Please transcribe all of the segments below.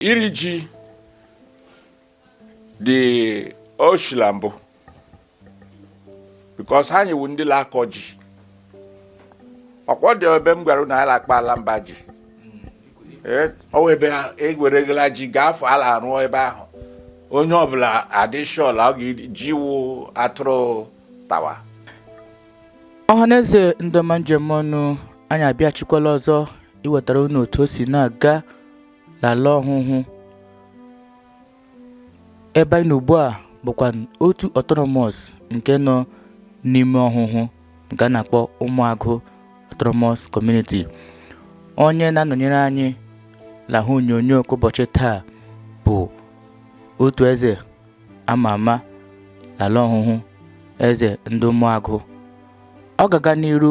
iri ji dị o shila mbụ because anyị wụ ndị la-akọ ji ọkwọ dị ebe m gwara na ala akpa ala mba ji ọwa ebe egweregala ji ga-afọ ala rụọ ebe ahụ onye ọbụla adịshọl ọ ga-eji wụ atụrụ tawa ọhaneze ndị ọma njem ọnụ anyị abịachikwala ọzọ iwetara unu otu o si na-aga n'ala ọhụhụ ebe anyị nọ ugbu a bụkwa otu autonomous nke nọ n'ime ọhụhụ nke a na-akpọ ụmụagụ autonomous community onye na-anọnyere anyị l'ihu onyonyo ka ụbọchị taa bụ otu eze ama ama n'ala ọhụhụ eze ndị ụmụagụ ọ ga-aga n'iru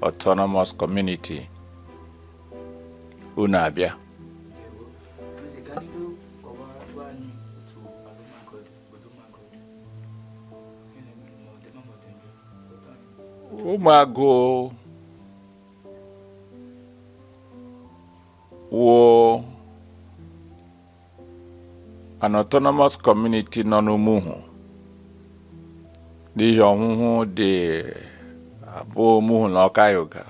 Autonomous Community unu abịa ụmụagụ wụ an autonomous community nọ n'Umuhu n'ihi ọhụhụ dị abụọ Umuhu na Okaiuga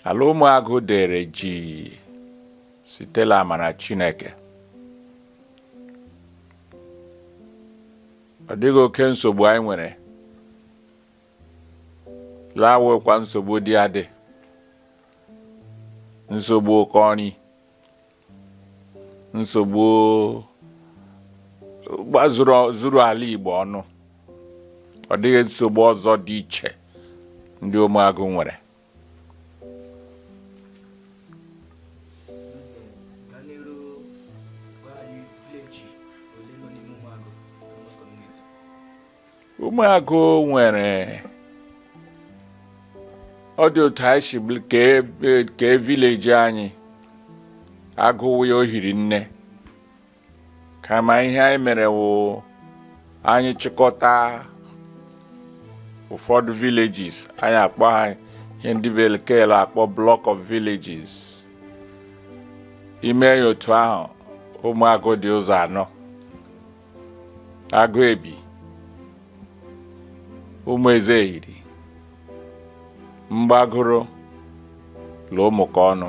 ala ụmụagụ dere jii site l'amara Chineke ọ dịghị oke nsogbu anyị nwere ya wụkwa nsogbu dị adị nsogbu ụkọ ọrụ nsogbu gbazuru ala Igbo ọnụ ọ dịghị nsogbu ọzọ dị iche ndị ụmụagụ nwere ụmụagụ nwere ọ dị otu anyị si kee village anyị a gụwa ya o hiri nne kama ihe anyị mere wụ anyị chịkọta ụfọdụ villages anyị akpọọ ha ihe ndị bekee la-akpọ block of villages i mee ya otu ahụ ụmụagụ dị ụzọ anọ agụ ebi ụmụ eze eyiri mgbagoro la ụmụka ọnụ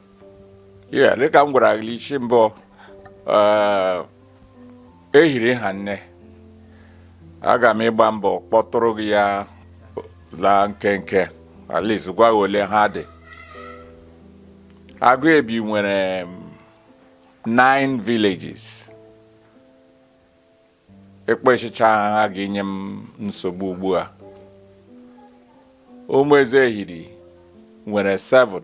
ya dịka m gwara gị isi mbụ eh, ehiri ha nne aga m ịgba mbọ kpọtụrụ gị ya la nkenke at least gwa gị ole ha dị agụ ebi nwere mm, nine villages ịkpọchịcha ha ga inye m nsogbu ugbu a ụmụ eze ehiri nwere 7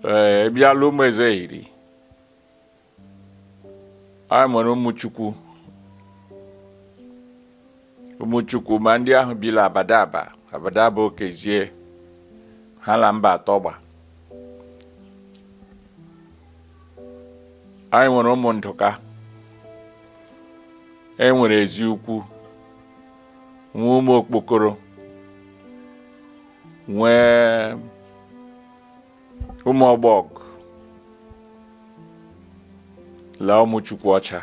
ee bịa la ụmụ eze ehiri anyị nwere ụmụ chukwu ụmụchukwu ma ndị ahụ bi la abadaba abadaba okezie ha la mba atọ gba anyị nwere ụmụ ndụka e nwere ezi ukwu nwee ụmụ okpokoro nwee ụmụ ọgbọg la ụmụ chukwu ọcha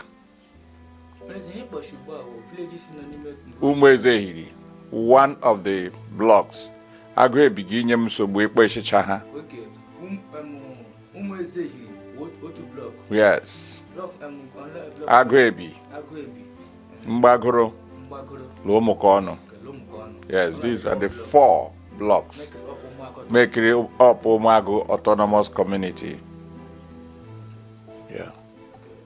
Umueze Ehiri, one of the blocks. Agụ ebi ga inye m nsogbu ịkpọchịcha ha. Um, um, yes. Um, Agụ ebi. Mgbagoro. Lụọ ụmụkọ ọnụ. Yes, these are the four blocks making up Ụmụagụ Autonomous Community. Yeah.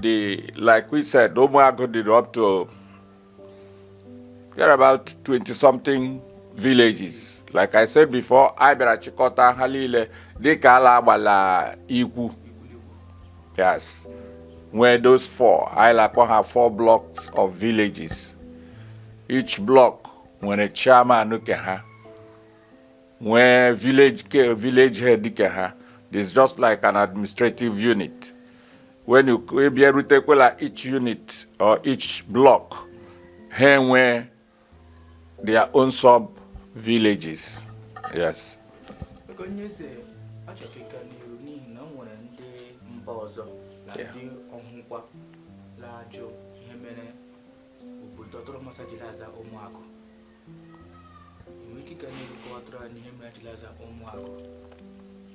The, like we said, Omuago did up to there are about 20 something villages. Like I said before, I bịara chịkọta ha niile dịka ala agbala ikwu. Yes. Where those four, I like to have four blocks of villages. Each block nwere chairman nke ha. nwee village care village head dịka ha this just like an administrative unit when you bịa rutekwala each unit or each block ha enwee their own sub villages yes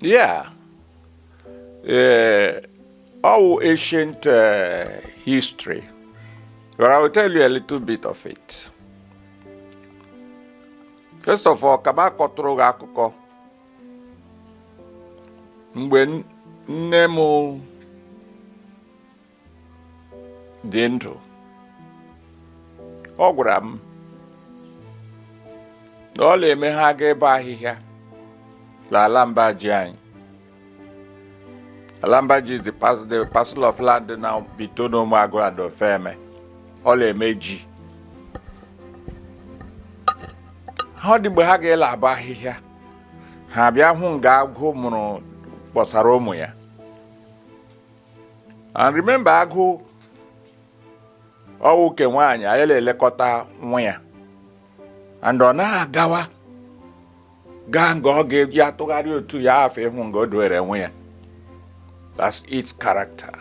Yeah. Uh, ọ wụ ancient uh, history. But I will tell you a little bit of it. First of all, ka m kọtụrụ gị akụkọ mgbe nne m dị ndụ ọ gwara m na ọ la-eme ha gaa ịbọ ahịhịa l'ala mba ji anyị ala mba ji the pas- the parcel of land in between ụmụagụ and ofeme ọ la-eme ji ha ọ dị mgbe ha ga la-abọ ahịhịa ha bịa hụ nga agụ mụrụ kpọsara ụmụ ya and remember agụ ọ wụ ke nwaanyị ya la-elekọta nwa ya and ọ na-agawa gaa nga ọ ga-eji atụgharị otu ya afọ ịhụ nga o doere nwa ya that's its character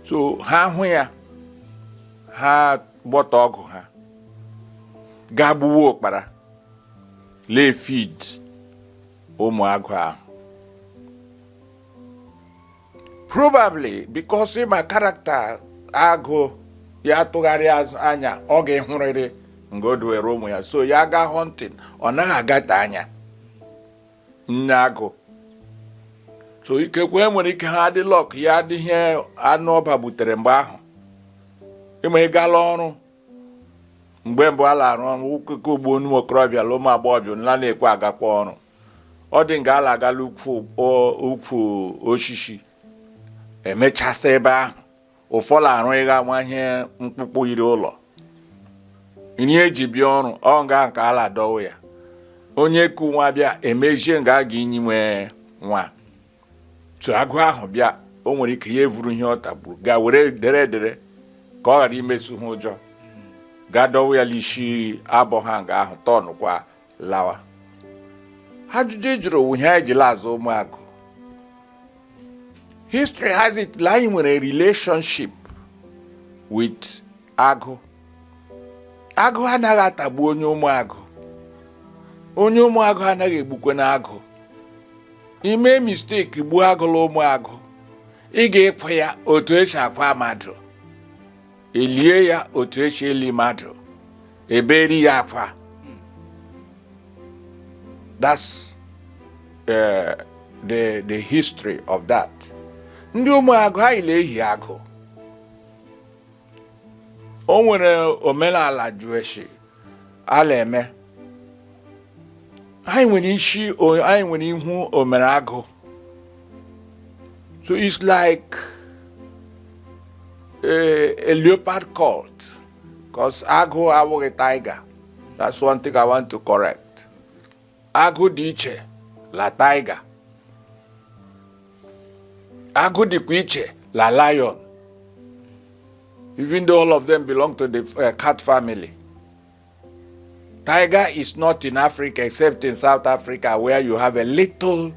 so ha hụ ya ha gbọtọ ọgụ ha gaa gbuwa ụkpara la feed ụmụ agụ ahụ probably because ị ma character agụ ya tụgharị anya ọ ga-ahụrịrị nga o duwere ụmụ ya so ya gaa hunting ọ naghị agata anya nne agụ so ikekwe nwere ike ha adị luck ya adịghị anụ ọ gbagbutere mgbe ahụ ị ma ị gala ọrụ mgbe mbụ a la-arụ ọrụ ọkụkọ ugbo ụmụ okorobịa na ụmụ agbọghọbịa nla na-ekwe agakwa ọrụ ọ dị nga a la-aga la ukwu o- ukwu osisi emechasị ebe ahụ ụfọdụ arụ ịga nwa ihe mkpụkpụ yiri ụlọ nri e ji bịa ọrụ ọ nga ahụ ka a la-adọwa ya onye ku nwa bịa emezie nga a ga-enyiwe nwa so agụ ahụ bịa o nwere ike ya evuru ihe ọ tagburu gaa were dere edere ka ọ ghara imesu ha ụjọ gaa dọwa ya l'isi abọ ha nga ahụ turnụkwa lawa ajụjụ ị jụrụ wụ ihe anyị ji la-aza ụmụagụ history has it na anyị nwere relationship with agụ agụ anaghị atagbu onye ụmụagụ onye ụmụagụ anaghị egbukwenụ agụ i mee mistake gbuo agụ la ụmụagụ ị ga-akwa ya otu esi akwa mmadụ elie ya otu esi eli mmadụ eberi ya akwa that's uh, the the history of that ndị ụmụagụ anyị la-ehi agụ o nwere omenala jueshi a la-eme anyị nwere isi anyị nwere ihu omere agụ so it's like a, a leopard cult because agụ awụghị tiger that's one thing i want to correct agụ dị iche la tiger agụ dịkwa iche la lion even though all of them belong to the uh, cat family tiger is not in africa except in south africa where you have a little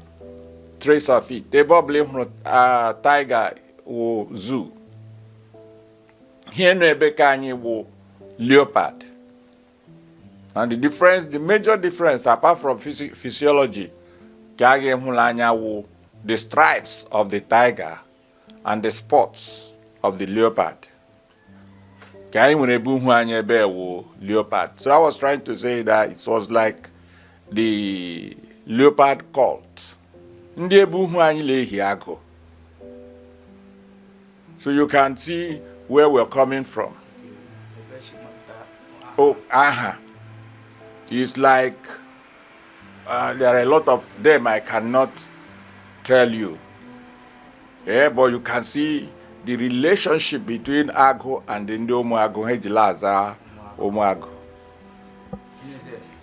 trace of it ebe ọ bụla ị hụrụ uh, tiger wụ zoo ihe nọ ebe ke anyị wụ leopard and the difference the major difference apart from physi physiology ka a ga-ahụ la anya wụ the stripes of the tiger and the spots of the leopard ke anyị nwere ebe uhu anyị ebe wụ leopard so i was trying to say that it was like the leopard cult ndị ebe uhu anyị na-ehi agụ so you can see where we're coming from oh aha is like uh, there are a lot of them i cannot tell you yeah, but you can see the relationship between agụ and ndị ụmụagụ ha ji la-aza ụmụagụ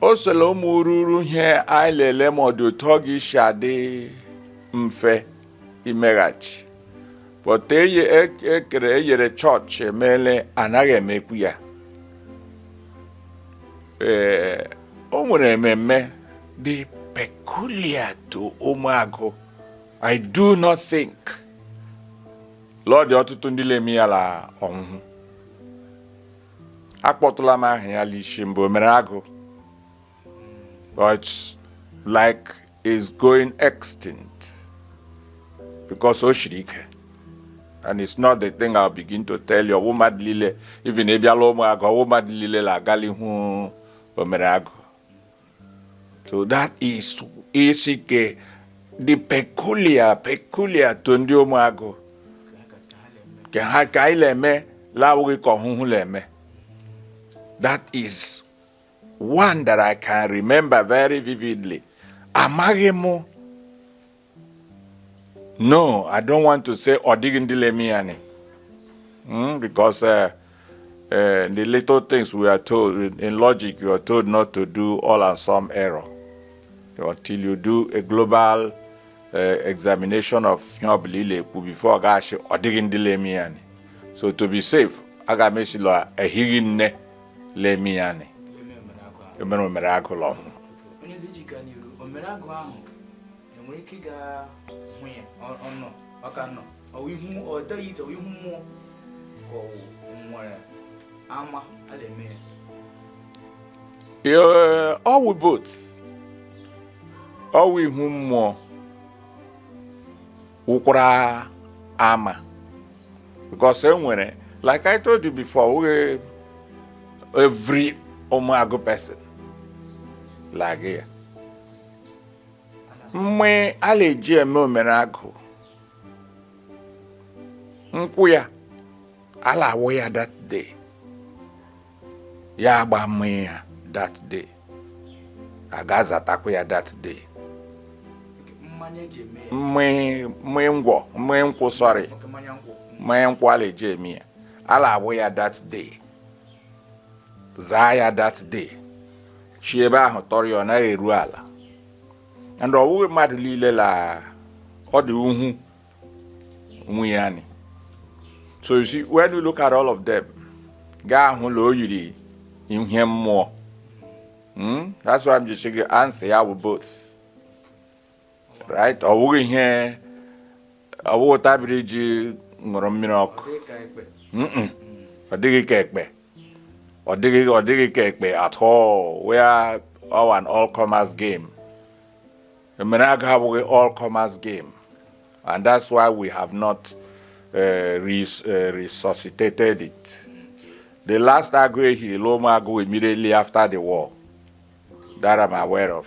o so la ụmụ ururu ihe anyị la-ele ma ọ dị otu ọ ga isi adị mfe imeghachi but ekere e, e eyere chọọchị emele anaghị emekwu ya ee o nwere ememme dị peculiar to ụmụagụ i do not think la ọ dị ọtụtụ ndị na-eme ya la ọhụhụ akpọtụla m aha ya l'ishi mbụ omere agụ but like it's going extinct because o shiri ike and it's not the thing I'll begin to tell you ọ wụ mmadụ niile even ị bịa la ụmụagụ ọ wụ mmadụ niile na-agali hụ omere agụ So that is isi ke the peculiar peculiar to ndị ụmụagụ ke ha ke anyị na-eme la-awụghị ke ọhụhụ na-eme that is one that I can remember very vividly amaghị m No, I don't want to say ọ dịghị ndị na-eme ya ni. Mm, because uh, uh, the little things we are told in, in logic, you are told not to do all and some error until you do a global uh, examination of ihe ọ bụla ị na-ekwu before ị ga-asị ọ dịghị ndị na-eme ya ni. So to be safe, aga m asị la ehighị nne na-eme ya ni. Emere omere agụ la Ọhụhụ. Onye ezi ji gaa n'iru, omere agụ ahụ e nwere ike ịga hụ ya ọnọ ọka nọ ọ wụ ihu ọ dịghị ite ihu mmụọ ka ọ wụ nwere ama a na-eme ya ọ wụ but ọ wụ ihu mmụọ wụkwara ama because e nwere like I told you before we every ụmụagụ person like here mgbe a na-eji eme omere agụ nkwụ ya a la-awụ ya that day ya agba mmanya ya that day a ga-azatakwa ya that day mmanya ngwọ mmanya nkwụ sọrị mmanya nkwụ a na-eji eme ya a la-awụ ya that day zaa ya that day chi ebe ahụ tọrọ ya ọ naghị eru ala and ọ wụghị mmadụ liile la ọ dị uhu nwunye anyị so you see when you look at all of them ị ga-ahụ la o yiri ihe mmụọ hmm? that's why I'm just saying answer ya wụ both right ọ wụghị ihe ọ wụghị tabiri ji ṅụrụ mmiri ọkụ ọ dịghị ka ekpe ọ dịghị ọ dịghị ka ekpe at all we are all an all comers game emere agụ awụghị all comers game and that's why we have not uh, res, uh, resuscitated it the last agụ e hiri l'Ụmụagụ immediately after the war that I'm aware of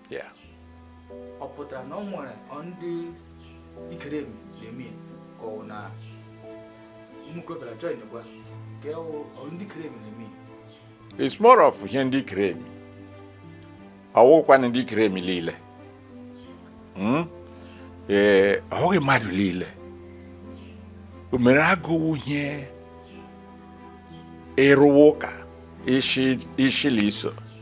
ọ pụtara na o nwere ndị ikere na-eme ka ọ na mmukrobịara join gwa ka ọ ndị ikere na-eme it's more of ihe ndị ikere emi ọ wụkwanụ ndị ikere emi liile hmm? ee ọ wụghị mmadụ liile o mere agụ wụ ihe ịrụwa ụka ishi la iso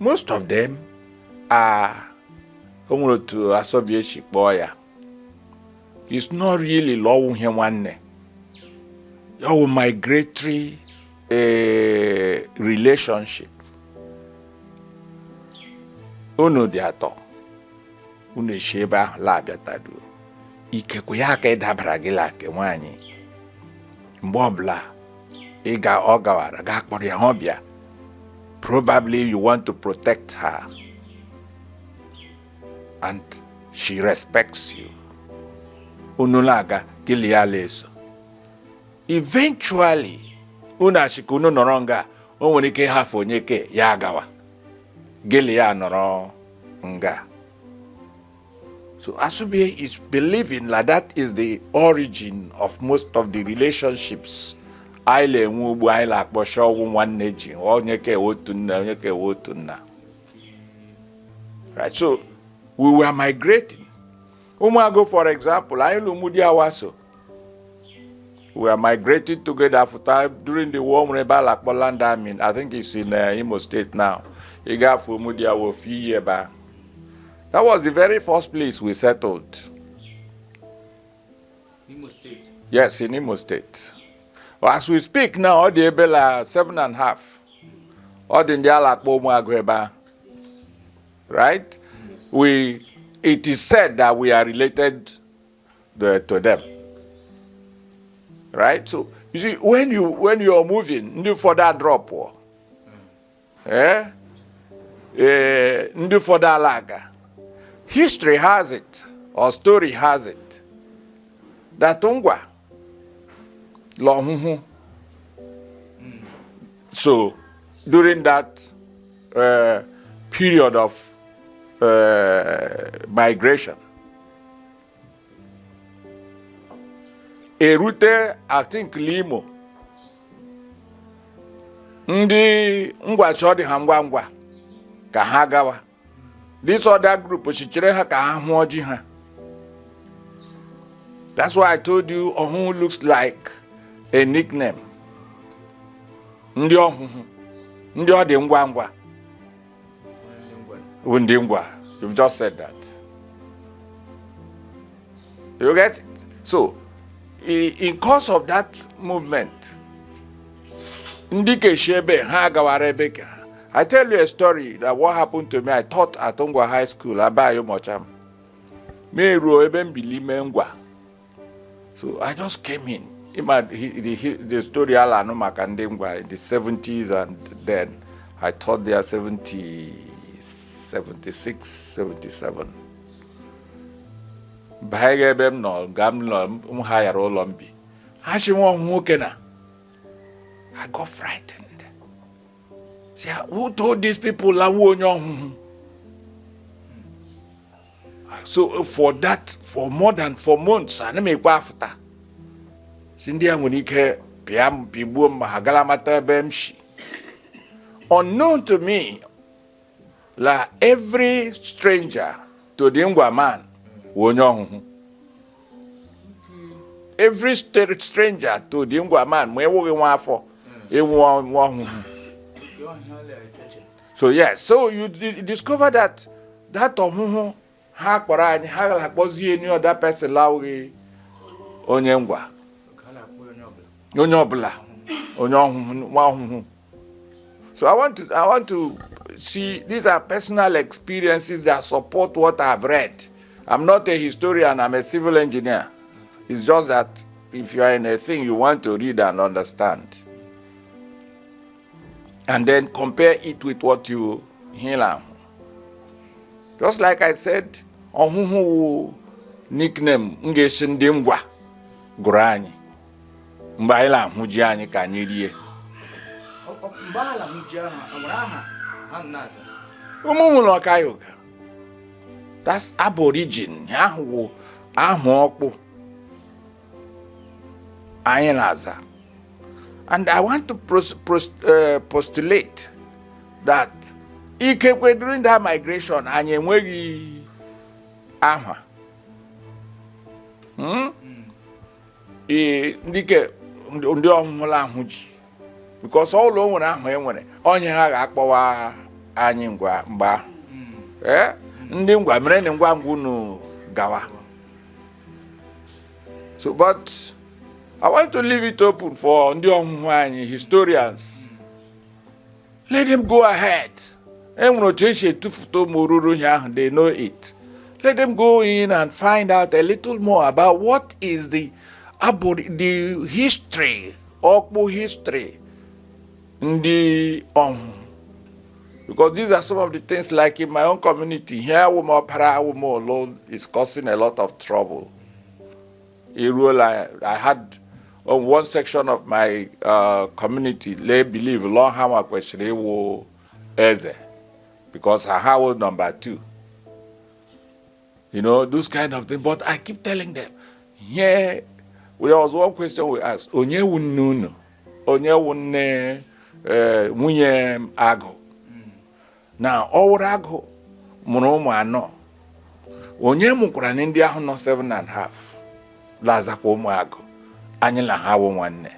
most of them are o nwere otu Asobie shi kpọọ ya it's not really la ọ wụ ihe nwanne ọ wụ migratory eh, relationship unu dị atọ unu shi ebe ahụ la-abịataduo ikekwe ya aka ịdabara gị la nke nwaanyị mgbe ọbụla ị ga ọ gawara gaa kpọrọ ya ọ bịa probably you want to protect her and she respects you unu la-aga gị la ya ala-eso eventually unu shị ka unu nọrọ nga o nwere ike ịhafụ onye ke ya agawa gị la ya nọrọ nga So Asobie is believing la that is the origin of most of the relationships anyị la-enwe ugbu anyị la-akpọ shị ọ wụ nwanne ji onye ka ewe otu nna onye ka ewe otu nna right so we were migrating ụmụagụ for example anyị l'Ụmụdiawa so we all migrated together after during the war nwere ebe a la-akpọ land army i think it's in uh, imo state now ị gafe Ụmụdiawa ofe iyi ebe a that was the very first place we settled imo state yes in imo state well, as we speak now ọ dị ebe la seven and half ọ dị ndị a la-akpọ ụmụagụ ebe a right we it is said that we are related the, to them. Right? So, you see, when, you, when you're moving, ndị ụfọdụ adrọpụọ eh? eh, ndị ụfọdụ ala-aga. History has it, or story has it, that Ngwa la Ọhụhụ. So, during that uh, period of uh, migration, erute i think la imo ndị ngwa shị ọ dị ha ngwa ngwa ka ha gawa this other group shị chere ha ka ha hụọ ji ha that's why i told you ọhụhụ looks like a nickname ndị ọhụhụ ndị ọ dị ngwa ngwa Ndị ngwa. You've just said that. You get it? So, in course of that movement, ndị ke shi ebe ha gawara ebe ke ha I tell you a story that what happened to me. I taught at Ngwa High School, Abayi Umuocham. M eruo ebe m bi l'ime Ngwa. so i just came in ị ma the story a na-anụ maka ndị ngwa in the 70s and then i taught there 70 76 77 banyere ebe m nọ nga m hayara ụlọ m bi ha shị nwa ọhụhụ kena i got frightened who told these people la m wụ onye ọhụhụ so uh, for that for more than four months anaghị m ekwe afụta sị ndị a nwere ike pịa m pigbuo m ma ha gara mata ebe m si unknown to me la every stranger to the ngwa man wụ onye ọhụhụ every stranger to the ngwa man ma ị wụghị nwa afọ ị wụ nwa ọhụhụ so yes so you discover that that ọhụhụ ha kpọrọ anyị ha la-akpọzi any other person la-awụghị onye ngwa onye ọbụla onye ọhụhụ nwa ọhụhụ so i want to i want to see these are personal experiences that support what i've read i'm not a historian i'm a civil engineer it's just that if you are in a thing you want to read and understand and then compare it with what ị la-ahụ just like i said ọhụhụ wụ nickname m ga-esi ndị ngwa gụrụ anyị mgbe anyị la-ahụ ji anyị ka anyị rie ụmụhụ la ọkaiuga that's aborigin aha wụ aha ọkpụ anyị na-aza and i want to pros, pros, uh, postulate that ikekwe during that migration anyị enweghị aha hmm? ee ndị ke ndị ọhụhụ la-ahụ ji because ọ wụ la o nwere aha e nwere ihe ha ga-akpọwa anyị mgbe ahụ ee ndị ngwa mere na ngwa ngwa unu gawa so but i want to leave it open for ndị ọhụhụ anyị historians let them go ahead enwere otu esi etufụta ụmụ oruru ihe ahụ they know it let them go in and find out a little more about what is the the history ọkpụ history ndị ọhụụ because these are some of the things like in my own community here woman para woman alone is causing a lot of trouble eruola I had on one section of my uh, community they believe la ọ ha kwesịrị ịwụ eze because ha wụ number two you know those kind of things but I keep telling them there was one question we asked onye wu nne unu onye wu nne eh, nwunye agụ na ọwụrụ agụ mụrụ ụmụ anọ onye mụkwaranụ ndị ahụ nọ seven and half la-azakwa ụmụ agụ anyị la ha wụ nwanne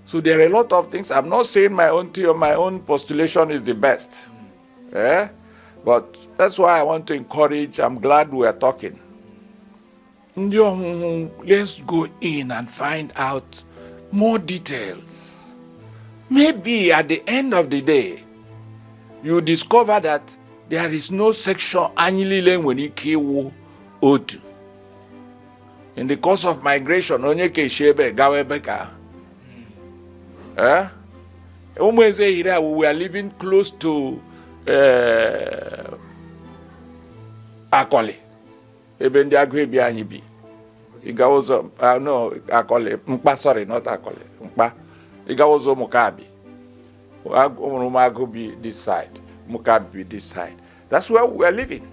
so there are a lot of things i'm not saying my own theory my own postulation is the best eh? but that's why i want to encourage i'm glad we are talking ndị ọhụhụ let's go in and find out more details maybe at the end of the day you discover that there is no section anyị niile nwere ike ịwụ otu in the course of migration onye ke esi ebe gawa ebe ka eh? ụmụ eze yiri a we are living close to eh, akọlị ebe ndị agụ ebi anyị bi ịga ụzọ akọlị nkpa sorry not akọlị nkpa ịga ụzọ ụmụkabi ọ wụrụ ụmụagụ bi this side ụmụkabi bi this side that's where we are living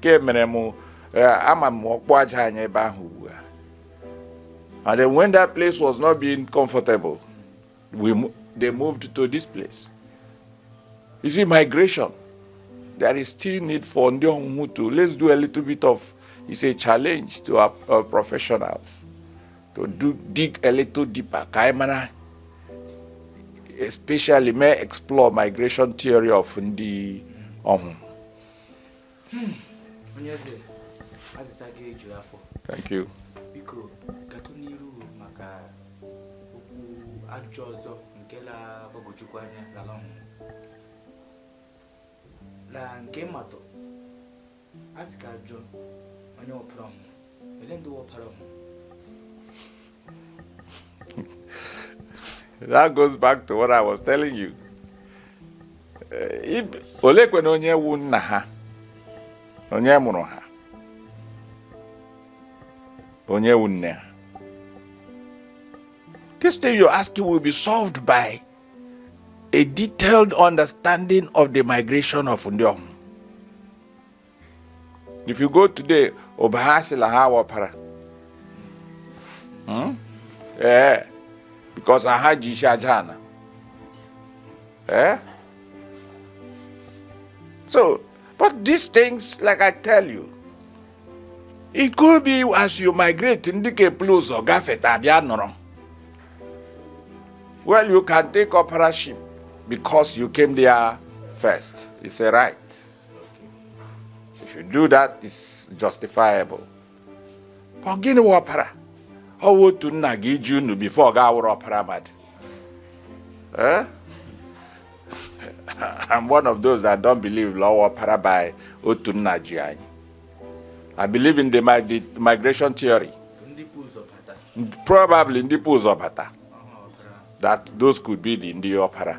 ke mere m eh, ama m ọkpụ aja anyị ebe ahụ ugbu a and then when that place was not being comfortable We, they moved to this place. You see, migration, there is still need for ndị ọhụhụ to let's do a little bit of it's a challenge to our, our professionals to do dig a little deeper ka anyị mara especially may explore migration theory of ndị ọhụrụ Hmm. onye eze azịza gị ejuru afọ thank you biko gaatụ n'iru maka otu ajụjụ ọzọ nke la-agbagwojukwu anya l'ala ọhụhụ la nke mmatụ a sị ka a jụọ onye wụ ọpara ọhụhụ ele ndị wụ ọpara ọhụhụ that goes back to what I was telling you. Eh, olekwanụ onye wu nna ha onye mụrụ ha onye wu nne ha this thing you're asking will be solved by a detailed understanding of the migration of ndị Ọhụhụ if you go today Ụbaha sị la ha wụ ọpara hmm? ee eh, because ha ji isi aja ana ee eh? so but these things like i tell you it could be as you migrate ndị ka epulu ụzọ gafeta bịa nọrọ well you can take ọparaship because you came there first it's a right if you do that is justifiable ọ gịnị wụ ọpara ọ wụ otu nna ga-eji unu before ọ ga-awụrụ ọpara mmadụ eh? I'm one of those that don't believe la ọpara bụ otu nna ji anyị I believe in the migration theory probably ndị pụ ụzọ bata that those could be the ndị ọpara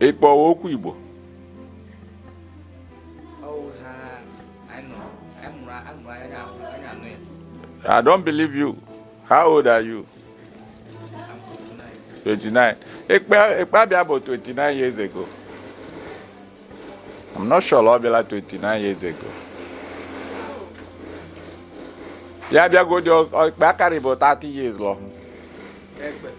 ịkpọwa okwu Igbo I don't believe you. How old are you? 29. Ekpe abịa bụ 29 years ago. I'm not sure ọ bịala 29 years ago. Ya bịagodi ekpe akarị bụ 30 years lọ.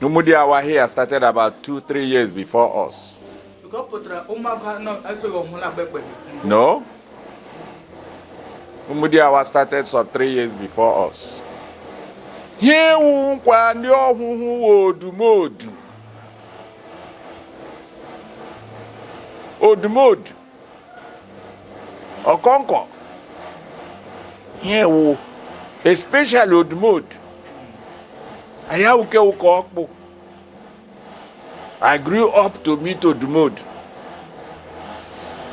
Umudiawa here started about two, three years before us. No. Umudiawa started some three years before us. Here we kwa ndị ọhụhụ odumodu. Odumodu. ọkọnkọ ihe wụ especially odumodu anyị awụke ụka ọkpụ I grew up to meet odumodu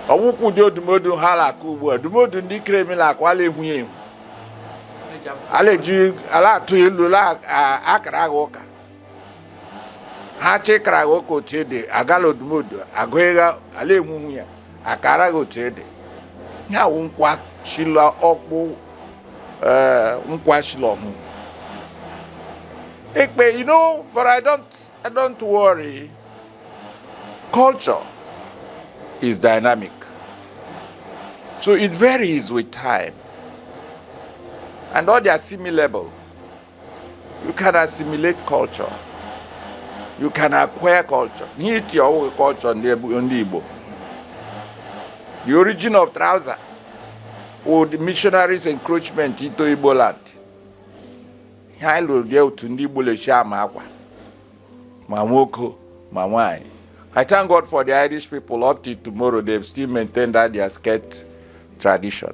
ọ wụkwụ ụdị odumodu ha na-akụ ugbu a odumodu ndị kremi na-akụ a la-ehu ya ehu a la-eji a la-atụ ilu a la-akara gị ụka ha chọọ ịkara gị ụka otu ede agala odumodu agụ ịgha ala enwunwu ya akara gị otu ede ya wụ nkwa shi la ọkpụ eh, nkwa shi la ọhụ ekpe you know but i don't i don't worry culture is dynamic so it varies with time and all their similar level you can assimilate culture you can acquire culture ihe iti ọwụghị culture ndị Igbo the origin of trouser wụ missionaries encroachment into Igbo land ihe anyị lụrụ bịa otu ndị Igbo la-eji ama akwa ma nwoke ma nwanyị I thank God for the Irish people up till tomorrow they've still maintained that their skirt tradition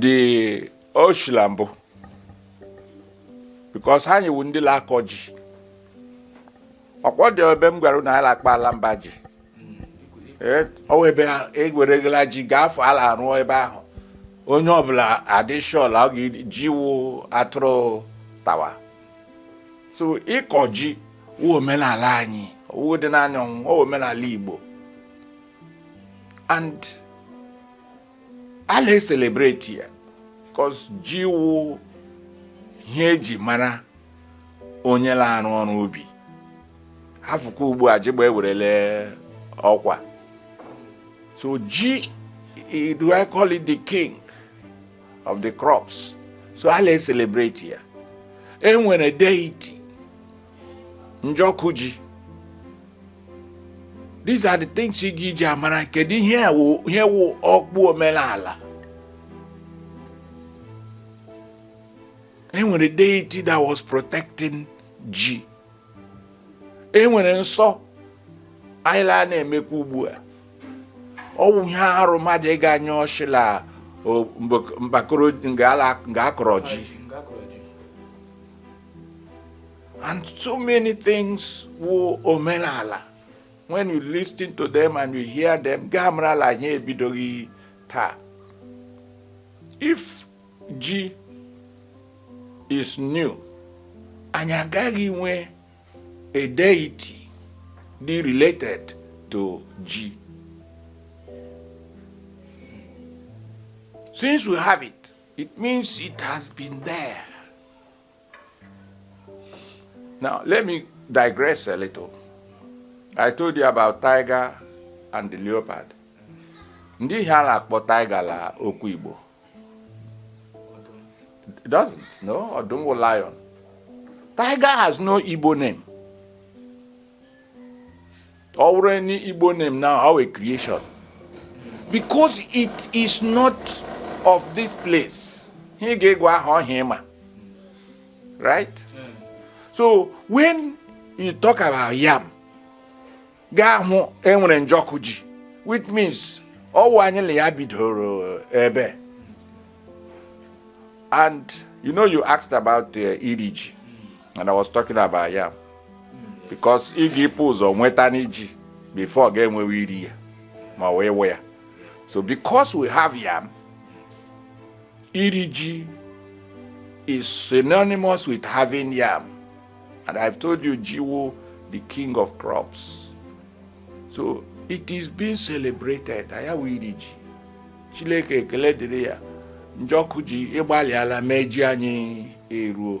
dị oshi la mbụ because anyị wụ ndị na-akọ ji ọkwa ọ dị ebe m gwara na anyị na-akpọ ala mba ji ọwụ ebe eweregala ji ga-afọ ala arụ ebe ahụ onye ọbụla adịshọl ọ ga-eji wụ atụrụ tawa so ịkọ ji wụ omenala anyị wụ dị n'anya ọwụ omenala Igbo and a na-ecelebrate ya cos ji wụ ihe eji mara onye na-arụ ọrụ ubi afụkwa ugbu a jigbọ ewerela ọkwa so ji eh, do I call it the king of the crops so a na-ecelebrate ya enwere deity njọkụ ji these are the things ị ga-eji amara kedu ihe ihe wụ ọkpụ omenala enwere deity that was protecting ji enwere nsọ anyị laa na-emekwa ugbu a ọwụ ihe arụ mmadụ ịga anya oshi la mbakoro nga akọrọ ji And so many things wụ omenala. When you listen to them and you hear them, ị ga-amara la anyị ebidoghị taa. If ji is new, anyị agaghị nwe a deity dị related to ji. Since we have it, It means it has been there. Now, let me digress a little. I told you about tiger and the leopard. Ndị ihe a na-akpọ tiger la okwu Igbo. It doesn't, no? Ọdụm wụ lion. Tiger has no Igbo name. Ọ wụrụ any Igbo name now, ọwụ a creation. Because it is not of this place. Ihe ị ga-agụ aha ọwụ ihe ị ma. Right? So when you talk about yam, ị ga-ahụ enwere njọkụ ji, which means ọwụ anyị na ya bidoro ebe. And you know you asked about uh, iri ji. and I was talking about yam because ị ga-ịpụ ụzọ nwetanụ ji before ga-enwewe iri ya ma wee we ya so because we have yam iri ji is synonymous with having yam and I've told you ji wụ the king of crops so it is being celebrated ọ ya wụ iri ji Chineke ekele dịrị ya Njọkụ ji ị gbalịala mee ji anyị eruo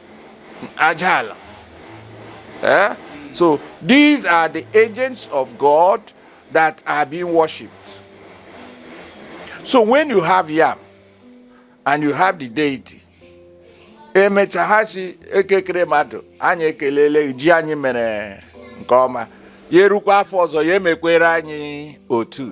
aja ala eh? so these are the agents of God that are being worshipped so when you have yam and you have the deity emecha ha sị Eke kere mmadụ anyị ekelele ji anyị mere nke ọma ya erukwa afọ ọzọ ya emekwere anyị otu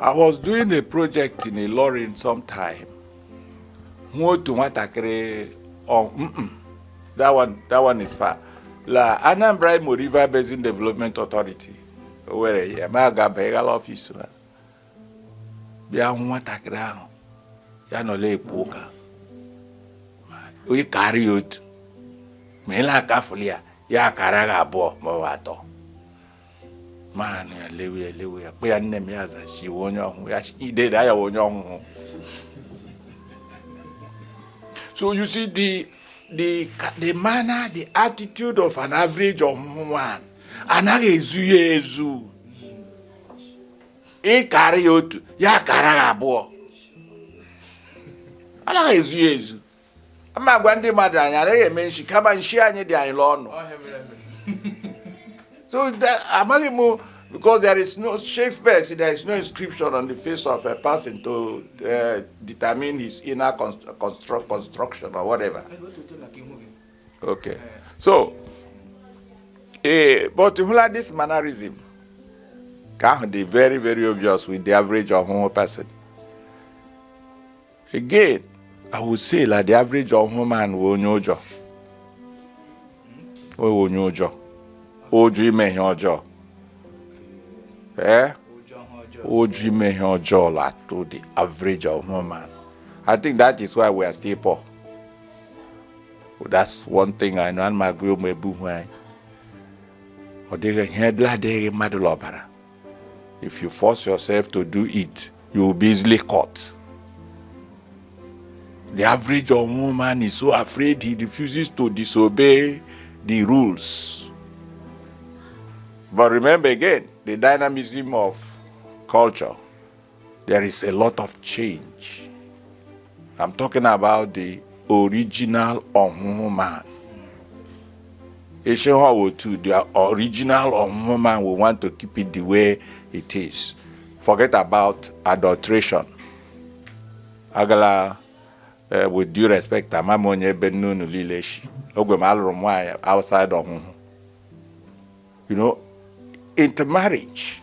I was doing a project in Ilorin sometime. Hụ otu nwatakịrị ọ mm, mm, that one that one is far. La Anambra Imo River Basin Development Authority. O nwere ihe m ga-abịa ịga la ọfịs ha. bịa hụ nwatakịrị ahụ ya nọla ekwu ụka ị kara ya otu ma ị na-akafụli ya ya akara gị abụọ ma ọ wụ atọ ma anọ ya lewe ya lewe ya kpọ ya nne m ya za sị ị wụ onye Ọhụhụ ya ideda ya wụ onye Ọhụhụ so you see the the the manner the attitude of an average Ọhụhụ one anaghị ezu ya ezu ị kara ya otu ya kara ya abụọ anaghị ezu ya ezu ana m agwa ndị mmadụ anyị anaghị eme nshi kama nshi anyị dị anyị l'ọnụ so amaghị m because there is no Shakespeare said there is no inscription on the face of a person to uh, determine his inner construct construction or whatever. okay so ee but hụla this mannerism ka ahụ dị very very obvious with the average Ọhụhụ person again i would say la the average Ọhụhụ man wụ onye ụjọ ọ wụ onye ụjọ ụjọ ime ihe ọjọọ ee ụjọ ime ihe ọjọọ la-atụ the average Ọhụhụ man i think that is why we are still poor that's one thing I know ana m agwa ụmụ ebe uhu anyị ọ dịghị ihe ọ bụla adịghị mmadụ n'ọbara if you force yourself to do it you will be easily caught the average Ọhụhụ man is so afraid he refuses to disobey the rules but remember again the dynamism of culture There is a lot of change. I'm talking about the original ọhụhụ man. Ishe ha otu the original ọhụhụ man we want to keep it the way it is. Forget about adulteration. Agala uh, with due respect ama m onye ebe nne unu niile shi ogwe m alụrụ m nwaanyị outside ọhụhụ you know intermarriage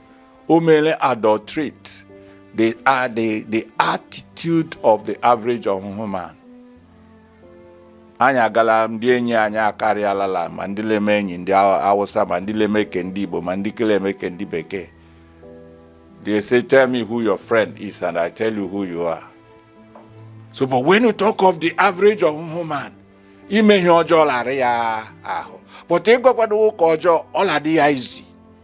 o meela adulterate the, uh, the, the attitude of the average ọhụhụ man anyị agala ndị enyi anyị akarịalala ma ndị la-eme enyi ndị awụsa ma ndị la-eme ke ndị igbo ma ndị ke la-eme ke ndị bekee they say tell me who your friend is and i tell you who you are so but when you talk of the average ọhụhụ man ime ihe ọjọọ la-ara ya ahụ but ịgwakwado ụka ọjọọ ọ la-adị ya easy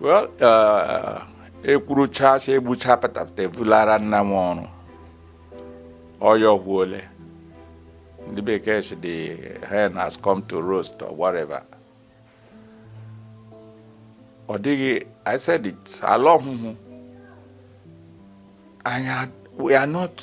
well uh, ekwuruchasị egbucha patapụta ebulara nna nwe ọrụ ọ ya ọ wụ ole ndị bekee sị the hen has come to roost or whatever ọ dịghị i said it ala ọhụhụ anya we are not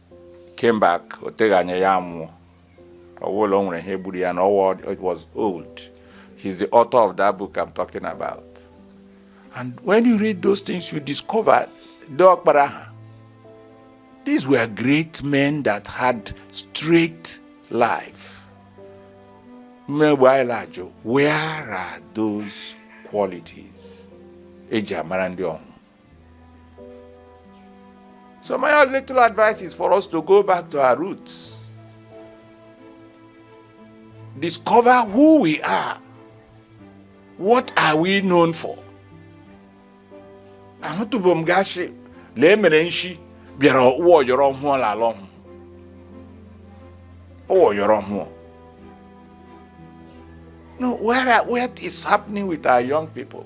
came back o teghị anya ya nwụọ ọ wụ la o nwere ihe gburu ya na ọwa he was old he's the author of that book I'm talking about and when you read those things you discover dee ọkpara ha these were great men that had straight life mgbe anyị na-ajụ where are those qualities eji amara ndị ọhụhụ So my little advice is for us to go back to our roots. Discover who we are. What are we known for? ahụtụbụ m gashi lee mere nshi bịara ụwa ọ yọrọ ọhụhụ ọ la ala ọhụhụ ụwa ọ yọrọ ọhụhụ no where, what is happening with our young people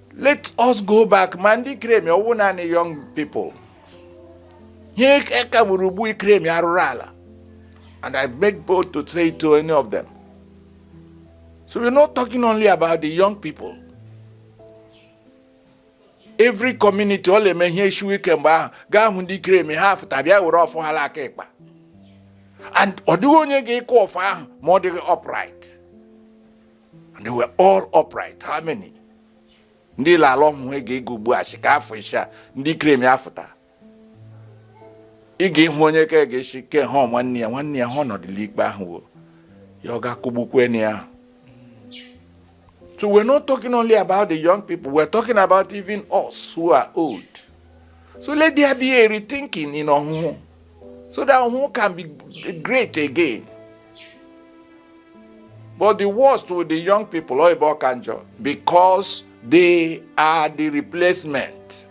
let us go back ma ndị kremi ọ wụ naanị young people ihe ka gburu ugbu ikremi arụrụ ala and i make bold to say to any of them so we're not talking only about the young people every community ọ na-eme ihe eshiwe ike mgbe ahụ gaa hụ ndị kremi ha afụta bịa were ọfọ ha aka ịkpa and ọ dịghị onye ga-ekwe ọfọ ahụ ma ọ dịghị upright and they were all upright how many ndị ile ala Ọhụhụ ga ego ugbu a si ka afọ isi a ndị krem ya fụta ị ga-ịhụ onye ka ga-esi ke ha nwanne ya nwanne ya ha ọnọdụla ikpe ahụ wo ya ọ ga-akụgbukwe na ya so we're not talking only about the young people we're talking about even us who are old so let there be a rethinking in Ọhụhụ so that Ọhụhụ can be great again but the worst with the young people ọ ebe ọ ka njọ because they are the replacement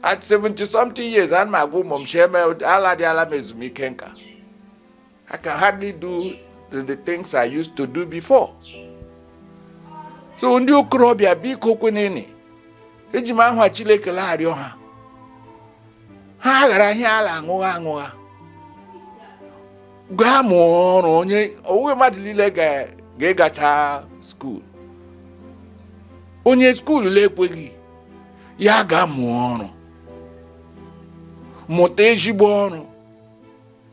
at 70 something years ana m agwa ụmụ m aladịala m ezumike nka I can hardly do the, the things I used to do before. So ndị okorobịa biko kwenene eji m aha Chineke arịọ ha ha ghara ihe ala aṅụgha aṅụgha gaa mụọ ọrụ onye ọ wụghị mmadụ niile ga-agacha skuul onye skuul na-ekweghị ya ga mụọ ọrụ mụta ezigbo ọrụ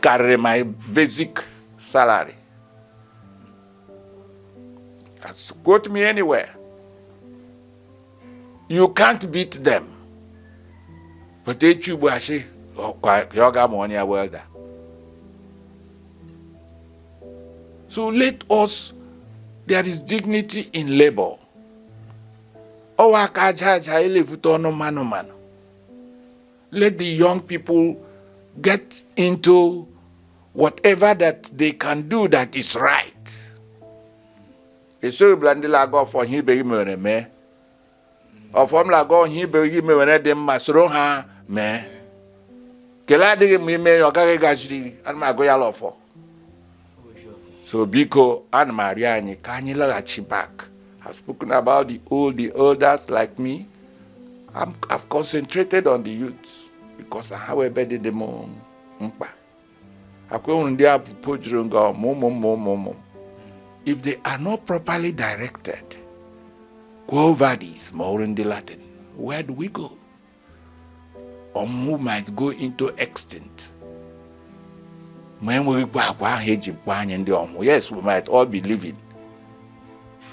karịrị my basic salary quote me anywhere you can't beat them but echi ugbu a sị ya ga mụọ ya welda so let us there is dignity in labor ọ wụ aka aja aja le-evute ọnụ mmanụ mmanụ Let the young people get into whatever that they can do that is right. esoghị bụla ndị na-agọ ọfọ ihe ibe gị mere mee ọfọ m na-agọ ihe ibe gị mere dị mma soro ha mee ke le adịghị mma i mee ya ọ gaghị gaziri gị ana m agọ ya la ọfọ so biko ana m arịọ anyị ka anyị laghachi back I've spoken about the old the elders like me I'm, I've concentrated on the youth because ha wụ ebe dị dị m mkpa akwa enwere ndị apụpo juru nga ọmụ ụmụ ụmụ ụmụ ụmụ if they are not properly directed Quo vadis, ma ọ wụrụ ndị Latin. Where do we go? Ọhụhụ might go into extinct ma enweghịkwa agwa ahụ eji makwa anyị ndị Ọhụhụ yes we might all be living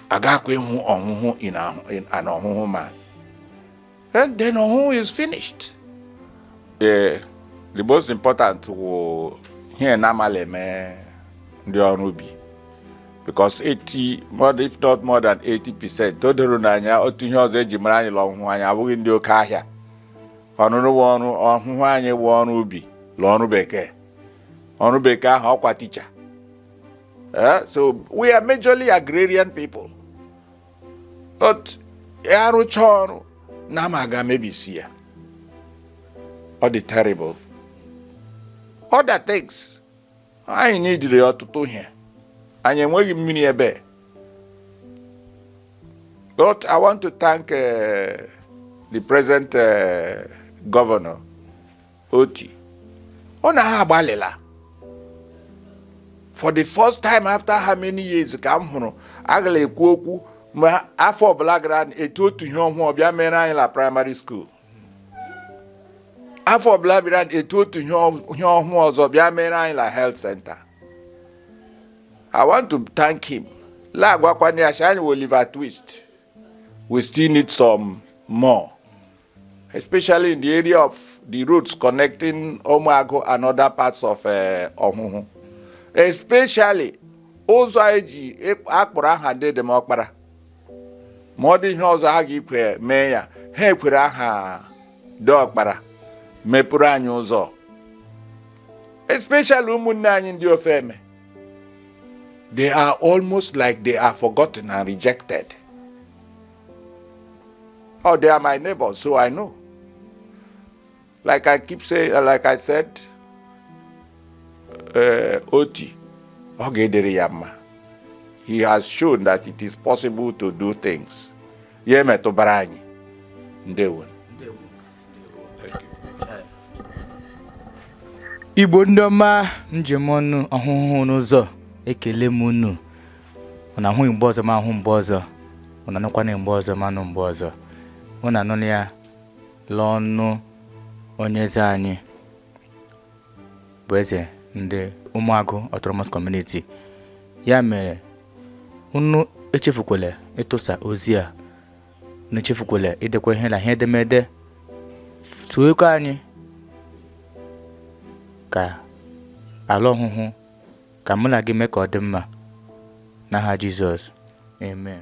agakwa ịhụ Ọhụhụ an Ọhụhụ man then Ọhụhụ is finished ee eh, the most important wụ ihe nna m la-eme ndị ọrụ ubi because 80 more than- if not more than 80 percent o doro n'anya otu ihe ọzọ eji mara anyị la ọhụhụ anyị awụghị ndị oke ahịa ọrụ wụ ọrụ ọhụhụ anyị wụ ọrụ ubi la ọrụ bekee ọrụ bekee ahụ ọkwa ticha Eh, so we are majorly agrarian people but arụcha ọrụ nama aga mebisie ya ọ dị terrible other things anyị needịrị ọtụtụ ihe anyị enweghị mmiri ebe but i want to thank uh, the present uh, governor Otti ọ na ha agbalịla for the first time after how many years ka m hụrụ agala ekwu okwu ma afọ ọbụla gara etu otu ihe ọhụụ ọbịa mere anyị na primary school afọ ọbụla bịara etu otu ihe ọhụụ ọzọ bịa mere anyị na health center i want to thank him la agwakwana ya anyị wụ Oliver Twist we still need some more especially in the area of the roads connecting Ụmụagụ and other parts of eh, Ọhụhụ especially ụzọ anyị ji akpọrọ aha deede m Ọkpara ma ọ dị ihe ọzọ ha ga-eji mee ya ha ekwere aha dee Ọkpara mepụrụ anyị ụzọ especially ụmụnne anyị ndị Ofeme they are almost like they are forgotten and rejected oh they are my neighbors so i know Like I keep saying, uh, like I said, uh, Otti, ọ ga-adịrị ya mma, he has shown that it is possible to do things. Ya metụbara anyị. Ndewo. Igbo ndị ọma njem ọnụ ọhụhụ n'ụzọ ekele m unu unu ahụghị mgbe ọzọ ma ahụ mgbe ọzọ unu anụkwana mgbe ọzọ ma anụ mgbe ọzọ unu anụla ya La ọnụ onye eze anyị bụ eze ndị ụmụagụ autonomous community ya mere unu echefukwala ịtụsa ozi a unu echefukwala idekwa ihe la ihe edemede sowekwa anyị ka ala ọhụhụ ka mụ la gị mee ka ọ dị mma n'aha Jizọs amen